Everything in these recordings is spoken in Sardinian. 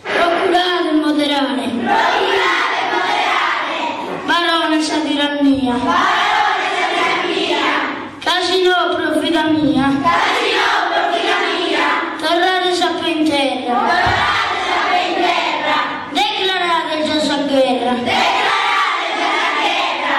Procurade 'e moderare. Procurade 'e moderare. Barones sa tirannia. Barones sa tirannia. Ca si no, pro vida mia. Ca si no, pro vida mia. Torrades a pe' in terra. Torrades a pe' in terra. Declarada est già sa gherra. Declarada est già sa gherra.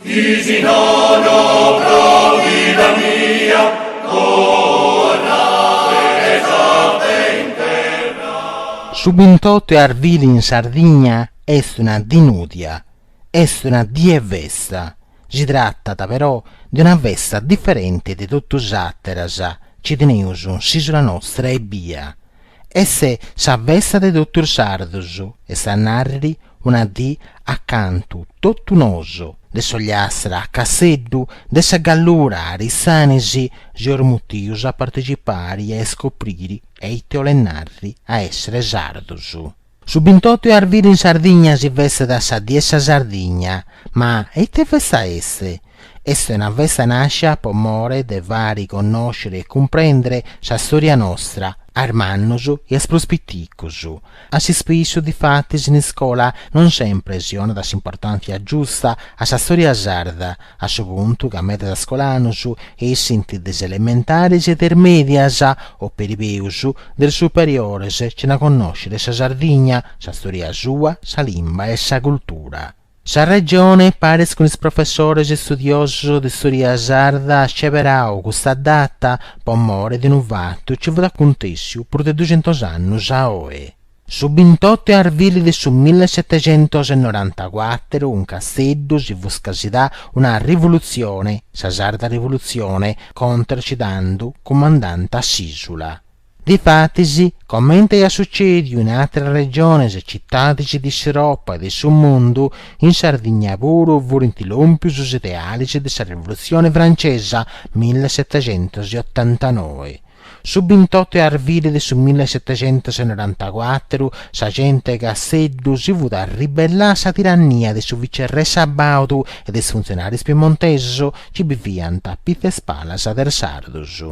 Chi si nono pro vida mia torrades a pe' in terra. Su bintotu 'e arvili in Sardigna est una dì nùdia, est una dì 'e festa, si tratat però de una festa diferenti de totu is àteras ci teneus in s'ìsula nostra ebbia, est sa festa de totu is sardos, est a narri Una dì a cantu totu nosu. De s'Ogliastra a Casseddu, de sa Gallura a Arisanis, seus mutius a partecipari e a iscopriri eite 'olet narri a essere sardus. Su bintotu 'e arviri in Sardigna si festat sa Die 'e sa Sardigna, ma eite festa est? Est una festa nascia po more de fari connòscere e cumprendere sa storia nostra a is mannus e a is prus piticus. A s'ispissu, difatis, in iscola non sempre si 'onat s'importàntzia giusta a sa stòria sarda, a su puntu ca medas scolanus essint de is elementaris e de is mèdias, o peri peus, de is superiores, cena connòscere sa Sardigna, sa stòria sua, sa limba e sa cultura. Sa Regione, paris cun is professores e studiosus de storia sarda, at sceberau custa data po more de unu fatu ci fut acuntèssiu prus de duxentus annus a oe, su bintotu 'e arvili de su millesetecentosnorantacuàteru, in Casteddu si fut scasidà una rivulutzione, sa Sarda Rivulutzione, contra ci tandu cumandanta a s'ìsula. Difatis, comente iat sucèdiu in àteras regiones e citadis de s'Europa e de su mundu, in Sardigna puru furint lòmpius is idealis de sa Rivolutzione francesa millesetecentosotantanoe. Su bintotu 'e arviri de su millesetecentosnorantacuatru sa gente 'e Casteddu si fut arribellà a sa tirannia de su vicerrè Sabaudu e de is funtzionàrios piemontesos ci biviant a pitza 'e is palas de is sardos.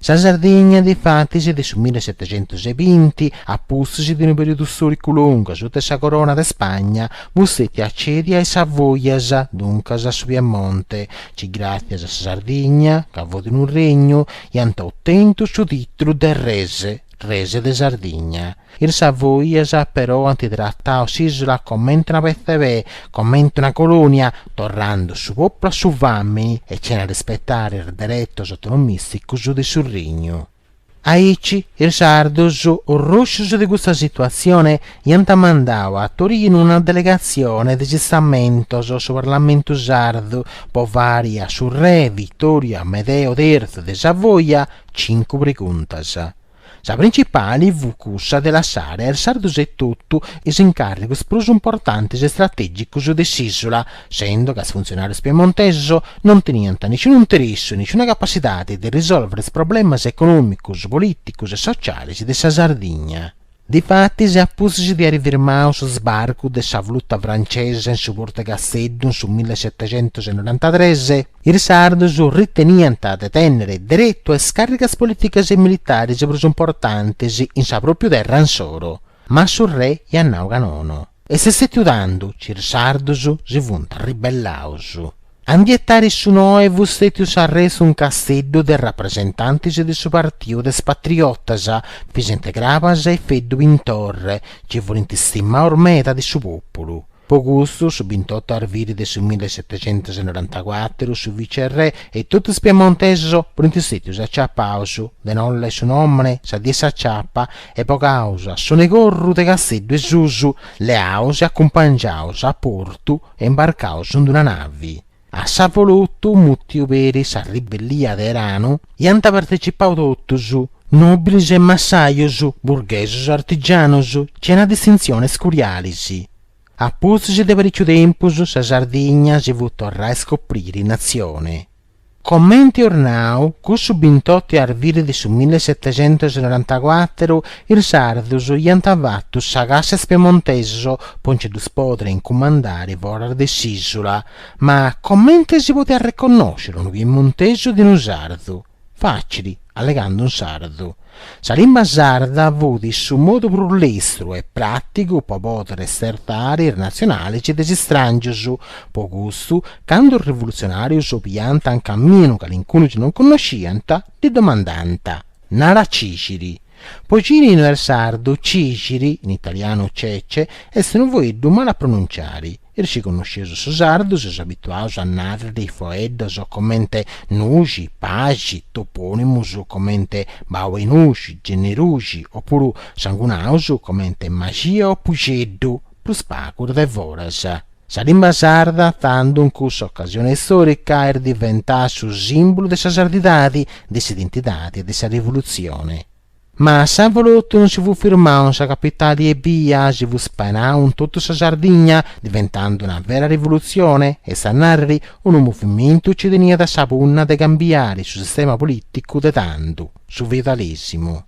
Sa Sardigna, difatis, de su mille setecentus e binti a pustis de unu perìodu stòricu longu asuta 'e sa Corona de Spagna, fut stètia cèdia a is Savoias, duncas a su Piemonte, ci gràtzias a sa Sardigna, ca fut unu regnu, iant otentu su tìtulu de Res, Res de Sardigna. Is savoias però ant tratau s'ìsula comente una petza 'e pè, comente una colònia, torrande su pòpulu a su fàmini e cena rispetare is deretos autonomìsticos de su regnu. Aici is sardos, orroscios de custa situatzione, iant mandau a Torinu una delegatzione de s'istamentos, su Parlamentu sardu, po fàri a su re Vitòriu Amedeu Terzu de Savoia cincu preguntas. Sa principali fut cussa de lassare a is sardus etotu is incàrrigus prus importantis e stratègicus de s'ìsula, sendo ca is funtzionàrius piemontesus non teniant niciunu interessu e niciuna capacidadi de risòlvere is problemas econòmicus, polìticus e socialis de sa Sardigna. Difatis, a pustis de àiri firmau su sbarcu de sa flota francesa in su portu 'e Casteddu in su millesetecentusenorantatres, Is sardus riteniant de tènnere deretu a is càrrigas polìticas e militaris prus importantis in sa pròpiu terra insoro, ma su re iat nau ca nono. Est stètiu tando ci is sardus si funt ribellaus. A ndi etari su noe fut stètiu s'arrestu in Casteddu de rapresentantis de su partiu de is patriotas, Visente Crabas e Feddu Pintorre, ci furint stimaus meda de su pòpulu. Po custu, su bintottu 'e arvili de su mille setecentusenorantacuatru, su vicerrè e totu is piemontesus furint stètius aciapaus, de nolle su nòmene, sa die 'e s'aciapa, e bogaus a sonu 'e corru de Casteddu 'e susu, leaus e acumpangiaus a portu e imbarcaus in d-una navi, A s'avolotu mutiu peri sa ribellia de eranu iant partecipau totus, nobilis e massajus, burghesus e artigianus, cena distintzionis curialis. A pustis de parìciu tempus sa Sardigna si fut torrà a iscopriri natzioni. Comenti eus nau, cussu bintottu 'e arvili de su millesetecentusnorantacuatru Is sardus iant fatu sa cassa a is piemontesus po nci ddus podiri incumandari foras de s'ìsula. Ma comente si podiat reconnosciri unu piemontesu de unu sardu? Fàcili, allegandu in sardu. Sa limba sarda fut su modu prus lestru e pràtigu po podiri stertari is natzionalis de is istràngius. Po custu, candu is rivolutzionàrius biant in caminu calincunu ci non connosciant, ddi domandànt. nara cìxiri. Po cini no est sardu, cìxiri, in italianu cece, est unu foeddu male a pronunciare. Is ci connosceus su sardu seus abituaus a nàrriri foeddos comente nuxi, paxi, topònimus comente Bau 'e Nuxi, Genneruxi, o puru sangunaus comente Maxia o Puxeddu, prus pagu is de foras. Sa limba sarda, tandu, in cussa ocasione istorica, est diventada su simbulu de sa sardidadi, de s'identidadi e de sa rivolutzione. Ma s'avolotu non si fut firmau in sa capitali ebbia si fut spainau in totu sa Sardigna, diventandu una vera rivolutzione, est a narriri, unu movimentu ci teniat sa punna de cambiari su sistema politicu de tandu, su feudalesimu.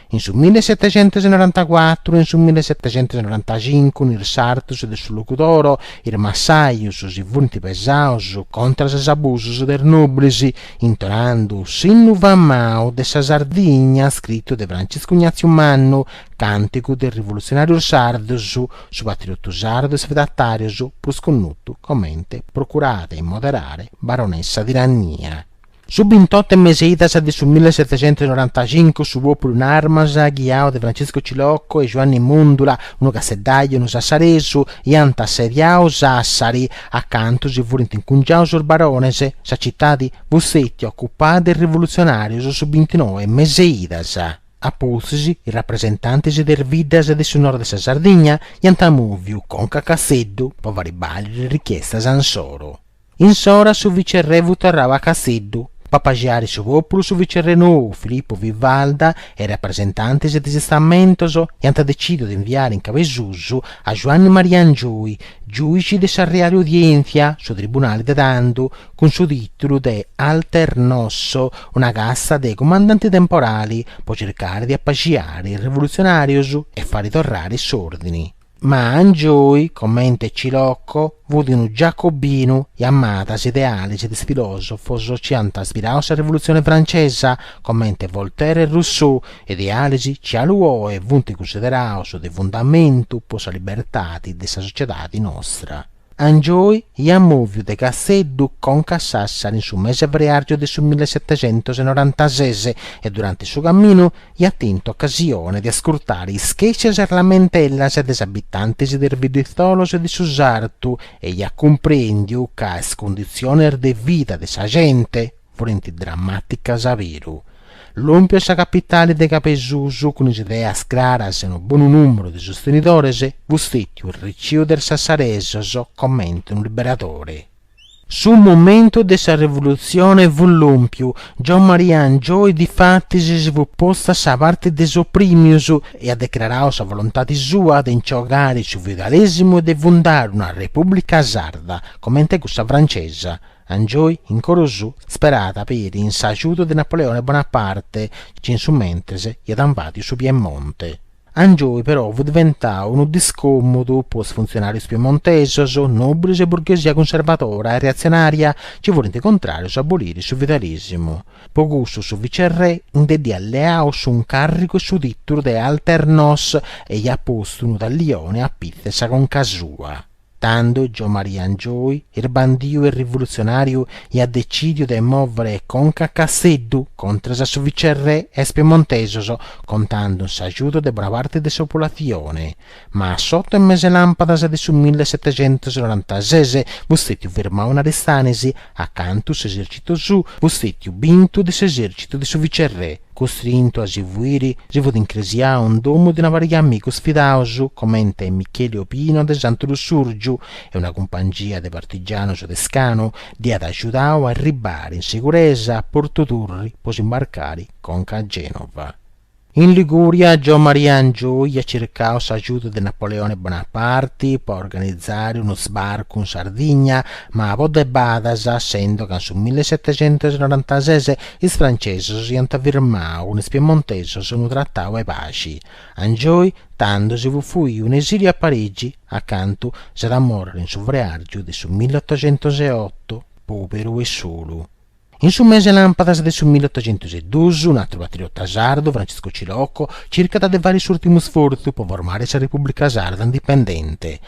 In su millesetecentusnorantacuatru e in su millesetecentusnorantacincu in is sartus de su Logudoro, is massajus, si furint pesaus contras is abusus de is nòbilis, intonandu s'innu famau de sa Sardigna scritu de Franciscu Ignatziu Mannu, càntigu de is rivolutzionàrius sardus, su patriotu sardu a is feudatàrius prus connotu comente Procurade 'e moderare barones sa tirannia. Su bintottu 'e meseidas de su millesetecentusnorantacincu su pòpulu in armas, ghiau de Franciscu Cilocco e Juanni Mundula, unu casteddaju e unu sassaresu, iant assediau Sàssari, a cantu si furint incungiaus is barones, sa citadi fut stètia ocupada de is rivulutzionàrios su bintinoe 'e meseidas. A pustis, is rapresentantis de is biddas de su nord de sa Sardigna iant mùviu conca a Casteddu po fari bàliri is richiestas insoru. Insora su vicerrè fut torrau a Casteddu. Po apaxiare su pòpulu su vicerrè nou Filippu Vivalda e is rapresentantis de is istamentos iant decìdiu de inviare in cabesusu a Juanni Maria Angioi, giùici de sa reali udièntzia, su tribunali de tandu, cun su tìtulu de alternos, una casta de cumandanti temporali, po circare de apaxiare is revolutzionàrius e fari torrare s'òrdini. Ma Angioy, comente Cilocco, fut unu giacobinu e amat is idealis de is filosofos chi ant ispirau sa Revolutzioni Francesa, comente Voltaire e Rousseau, idealis chi galu oe funt cunsideraus de fundamentu po sa libertadi de sa sociedadi nostra. Angioi iat mòviu de Casteddu conca a Sàssari in su mese 'e freàrgiu de su millesetecentosenoranta-ses e durante su caminu iat tentu ocasione de ascurtare is chèscias e is lamentellas de is abitantis de is bidditzolos de su sartu e iat cumprèndiu ca is cunditziones de vida de sa gente furent drammàticas a beru. Lòmpiu a sa capitale de Cabesusu cun is ideas craras e unu bonu nùmeru de sostenidores fut stètiu reciu de is sassaresos comente unu liberadore. Su momentu de sa revolutzione fut lòmpiu, Giommaria Angioy difatis si fut postu a sa parte de is oprìmius e at declarau sa volontade sua de nci bogare su feudalèsimu e de fundare una repùblica sarda comente cussa francesa. Angioy in coro suu speràt peri in s'agiudu de Napoleone Bonaparte chi in su mentres iat invàdiu su Piemonte. Angioy però fut diventau unu discòmodu po is funtzionàrius piemontesos, nobris e burghesia cunservadora e reatzionària chi furint contràrius a aboliri su feudalèsimu. Po custu su vicerrè nde dd'iat leau s'uncàrrigu e su tìtulu de Alter Nos e iat postu unu tallione a pitzu 'e sa conca sua. Tando Gio Maria Angioi, isbandiu e rivulutzionàriu, iat decìdiu de mòvere conca a Casteddu contras a su vicerrè e a is piemontesos, contando in s'agiudu de bona parte de sa populatzione. Ma s'oto 'e mese 'e làmpadas de su mille setecentosenorantazes fut stètiu firmau in Aristanis, acantu s'esèrcitu suu fut stètiu bintu de s'esèrcitu de su vicerrè, Costrintu a si fuiri, si fut incresiau in domu de una pariga de amigus fidaus, comente Micheli Obino de Santu Lussùrgiu, e una cumpangia de partigianus de scanu dd'iat agiudau a arribbari in siguresa a Portu Turri po s'imbarcari conca a Genova. In Ligùria, Gio Maria Angioi iat circau s'agiudu de Napoleone Bonaparti po organizari unu sbarcu in Sardigna, ma po debadas, essendo ca in su millesetexentusnorantases Is francesus iant firmau cun is piemontesus unu tratau 'e paxi, Angioi tando si fut fuiu in esiliu a Parigi, acantu s'at a morri in su freargiu de su millottocentuseuotto, poberu e solu. In su mese 'e lampadas de su millottocentuseuduus, un atru patriota sardu, Francisco Cilocco, circat de fari s'urtimu sfortzu po formai sa Repubblica Sarda indipendente,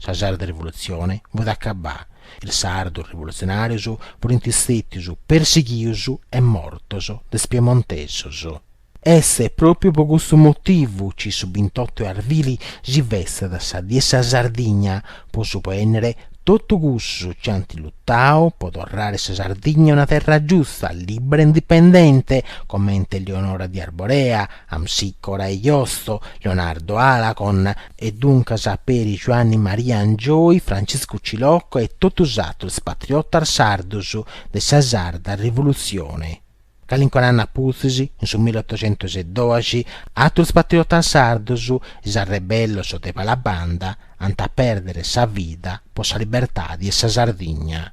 Sa sarda rivolutzione fut acabada, is sardos rivolutzionàrios furint stètios persighios e mortos de is piemontesos. Est pròpiu po custu motivu chi su bintottu 'e arvili si festat sa Die 'e sa Sardigna, po suspènnere totu custus chi ant lutadu po torrare sa Sardigna una terra giusta, lìbbera e indipendente, comente Leonora di Arborea, Amsicora e Josto, Leonardo Alagon, e duncas peri Giuanni Maria Angioi, Franciscu Cilocco e totu is atrus patriotas sardus de sa sarda Rivolutzioni. Calincunu annu a pustis, in su millottocentusdoxi, atrus patriotas sardus, is arrebellos de Palabanda, ant a perdere sa vida po sa libertadi 'e sa Sardigna.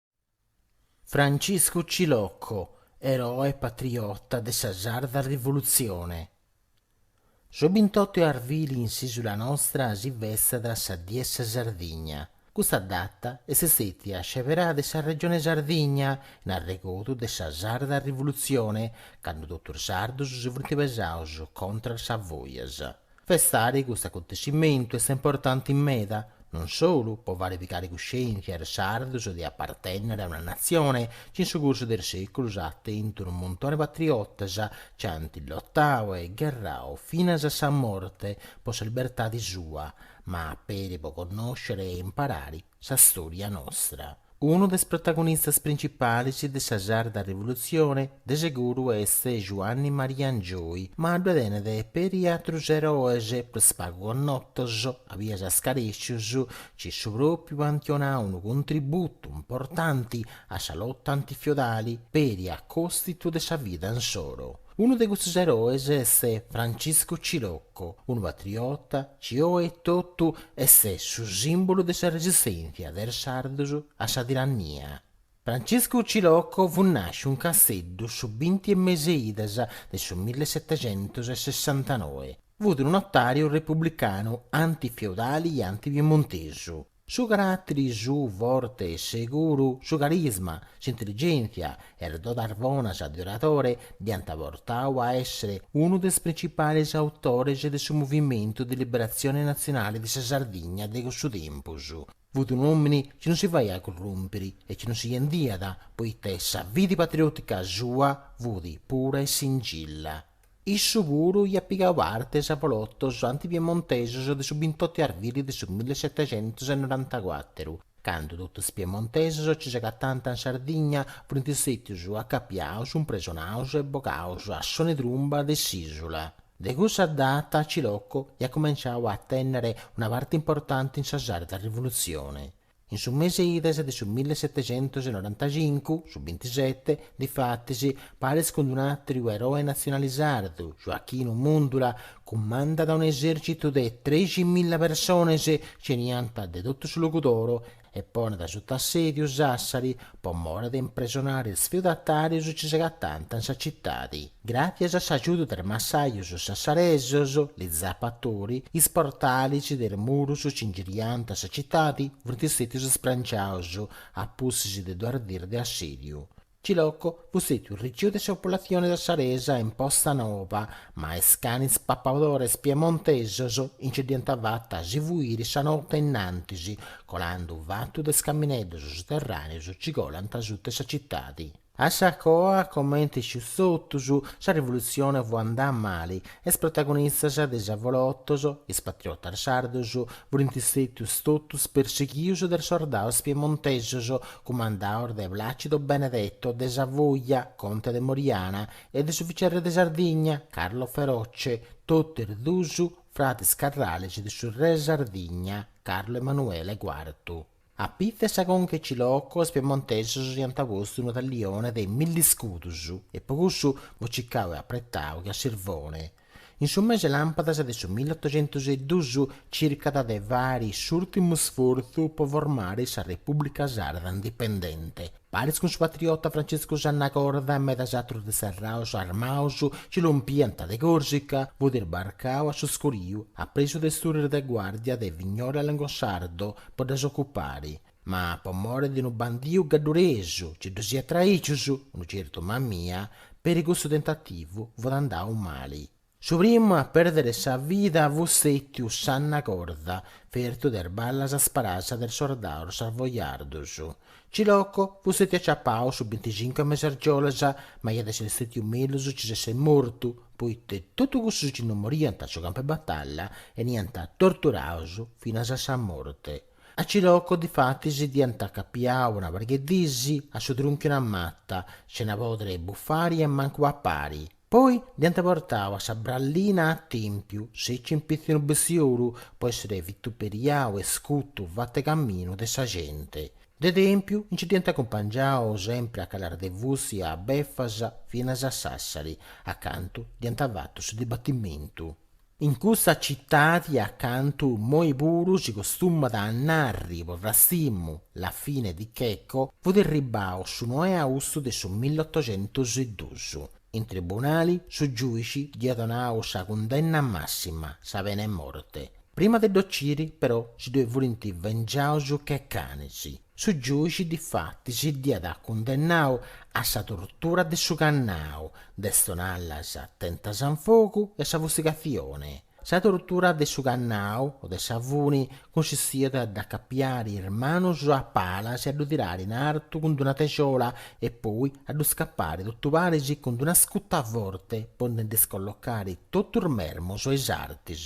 Franciscu Cilocco, eroe patriota de sa sarda rivolutzione. Su bintottu 'e arvili in s'isula nostra si festat sa Die 'e sa Sardigna. Custa data est stetia sceberada de sa Regione Sardigna in arregodu de sa sarda rivolutzione, cando totus is sardus si funt pesaus contra a is Savoias. Festare custu acontescimentu est importanti meda, non solu po fare pigare cuscièntzia a is sardos de apartènnere a una natzione chi in su cursu de is sèculos at tentu unu montone patriotas chi ant lotadu e gherradu finas a sa morte po sa libertade sua, ma peri po connòscere e imparare sa stòria nostra. Unu de is protagonistas principalis de sa sarda rivolutzioni de seguru est Juanni Maria Angioi, ma ddue tenet peri atrus eroes, prus pagu connotos, a bias scarècius, ci su pròpriu ant donau unu contributu importanti a sa lota antifiodali peri a còstitu de sa vida insoro. Unu de custos eroes est Franciscu Cilocco, unu patriota, ci oe etotu est su simbulu de sa resistèntzia de is sardos a sa tirannia. Franciscu Cilocco fut nàsciu in Casteddu su binti 'e mese 'e idas de su millesetecentus e sessantanoe. Fut unu notàriu republicanu anti-feudali e anti-piemontesu. Su carateri suu forte e seguru, su carisma, s'intelligèntzia e is dodas bonas de oratore dd'ant portadu a èssere unu de is principalis autores de su Movimentu de Liberatzione Natzionale de sa Sardigna de cussu tempus. Fut un'òmini chi non si faiat currùmpiri e chi non si bendiat, poita sa fidi patriòtica sua fut pura e singilla. Issu puru iat pigau parti a is avolotos antipiemontesos de su bintotu 'e arvili de su millesetecentus e norantacuateru, candu totu is piemontesos ci s'agatànt in Sardigna, funt stètius acapiaus, impresonaus e bogaus a sonu 'e trumba de s'ìsula. De cussa data Cilocco iat cumenciau a tènnere una parti importanti in sa sarda rivolutzioni. In su mese 'e idas de su millesetecentosenorantachincu, su bintisete, difatis, paris cun un'àtriu eroe natzionale sardu, Joachinu Mundula, cumandat un'esèrcitu de trexi milla persones, ci 'enianta de totu su Logudoro, e ponet suta assèdiu Sàssari, po more de impresonare is feudatàrius ci s'agatànt in sa citadi. Gràtzias a s'agiudu de is massajus sassaresus, li zappatori, is portalis de is murus ci ingirianta sa citadi funt stètius spranciaus a pustis de duas dis de assèdiu. Cilocco fut stètiu arriciu de sa populatzione sassaresa in Posta Nova, ma is canis papadores piemontesos nci dd'iant fata a si fuiri sa note in antis, colandu fatu de is camineddos suterràneos ci colànt suta sa citadi. A sa coa, comenti iscius totus, sa rivolutzione fut andà mali, Is protagonistas de is avolotos, is patriotas sardos, furint stètius totus persighius de is sordaus piemontesos, cumandaus de Placido Benedetto de Savoia, conte de Moriana, e de su vicerre de Sardigna, Carlo Feroce, totu is duus fratis carrales de su re 'e Sardigna, Carlo Emanuele Quartu. Apitzu 'e sa conca 'e Cilocco is piemontesos dd'iant postu unu tallione de milli iscudus e po cussu fut cicau e apretau che a sirvone, in su mese 'e làmpadas de su milliotucentus e dus, circat de fari s'urtimu sfortzu po formari sa Repubblica Sarda indipendente. Paris cun su patriota Francescu Sanna Corda e medas atrus disterraus armaus ci lompiant de Corsica, fut isbarcau a su scuriu, apresu de is turris de guardia de Vignore a Longosardo po ddas ocupari, ma po mori de unu bandiu gadduresu ci ddus iat traicius, unu certu Mamia, peri cussu tentativu fut andau mali. Su primu a pèrdere sa vida fut stètiu Sanna Corda, fertu de is ballas sparadas de is sordaus savojardus. Ciloco fut stètiu aciapau su binticincu 'e mes'argiolas, ma iat esser stètiu mellus ci s'esser mortu, poita totus cussus chi no moriant a su campu 'e batalla 'eniant torturaus finas a sa morte. A Ciloco difatis dd'iant acapiau una pariga 'e dis a su trunchiu 'e una mata, sena pòdere buffari e mancu papari. Poi dd'hiant portau a sa brallina a Tèmpiu, sèciu in pitzu 'e unu bestiolu, po èssere vituperiau e scutu fatu 'e caminu de sa gente. De Tèmpiu nci dd'hiant acumpangiau sempre a calas de fusti e a befas finas a Sassari, a cantu dd'hiant fatu su dibatimentu. In cussa citadi a cantu moi puru si costumat a narri po frastimu la fine di Checco fut irribau su noe 'e austu de su milliotucentus e dus in tribunali su giuici dd'iat donau sa cundenna massima sa pena 'e morte prima de dd'ociri però si ddoi furint vengiaus che canis Su giuixi difatis dd'iat cundennau a sa tortura de su cannau, de is tonallas tentas in fogu e sa fustigatzioni. Sa tortura de su cannau o de sa funi cunsistiat a dd'acapiari is manus a palas e a ddu tirari in artu cun d'una texola e poi a ddu scappari totu paris cun d'una scuta forte po ndi dd'iscollocari totus is mermus e is artis.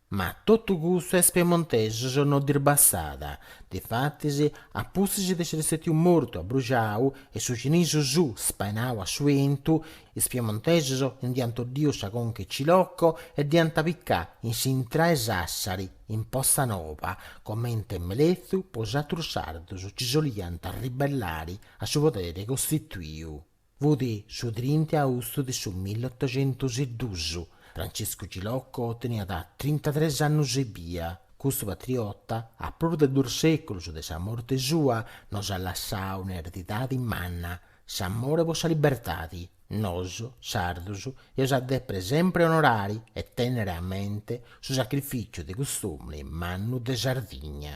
Ma totu custu a is piemontesus no ddis bastat, difatis a pustis de esseri stètiu mortu abbruxau e su cinisu suu spainau a su bentu, is piemontesus nd'iant 'oddiu sa conca 'e Cilocco e dd'iant picau in s'intrada 'e Sassari, in Porta Nova, comente amelezu po is atrus sardus ci si 'oliant arribellari a su poderi costituiu. Fut su trinta e austu de su milletoxentus e dus. Franciscu Cilocco teniat trintatres annus ebbia. Custu patriota, a prus de duus seculus de sa morte sua, nos at lassau un'eredidadi manna, s'amore po sa libertadi. Nos, sardus, eus a depere sempre onorari e tennere a mente su sacrificiu de cust'omini mannu de Sardigna.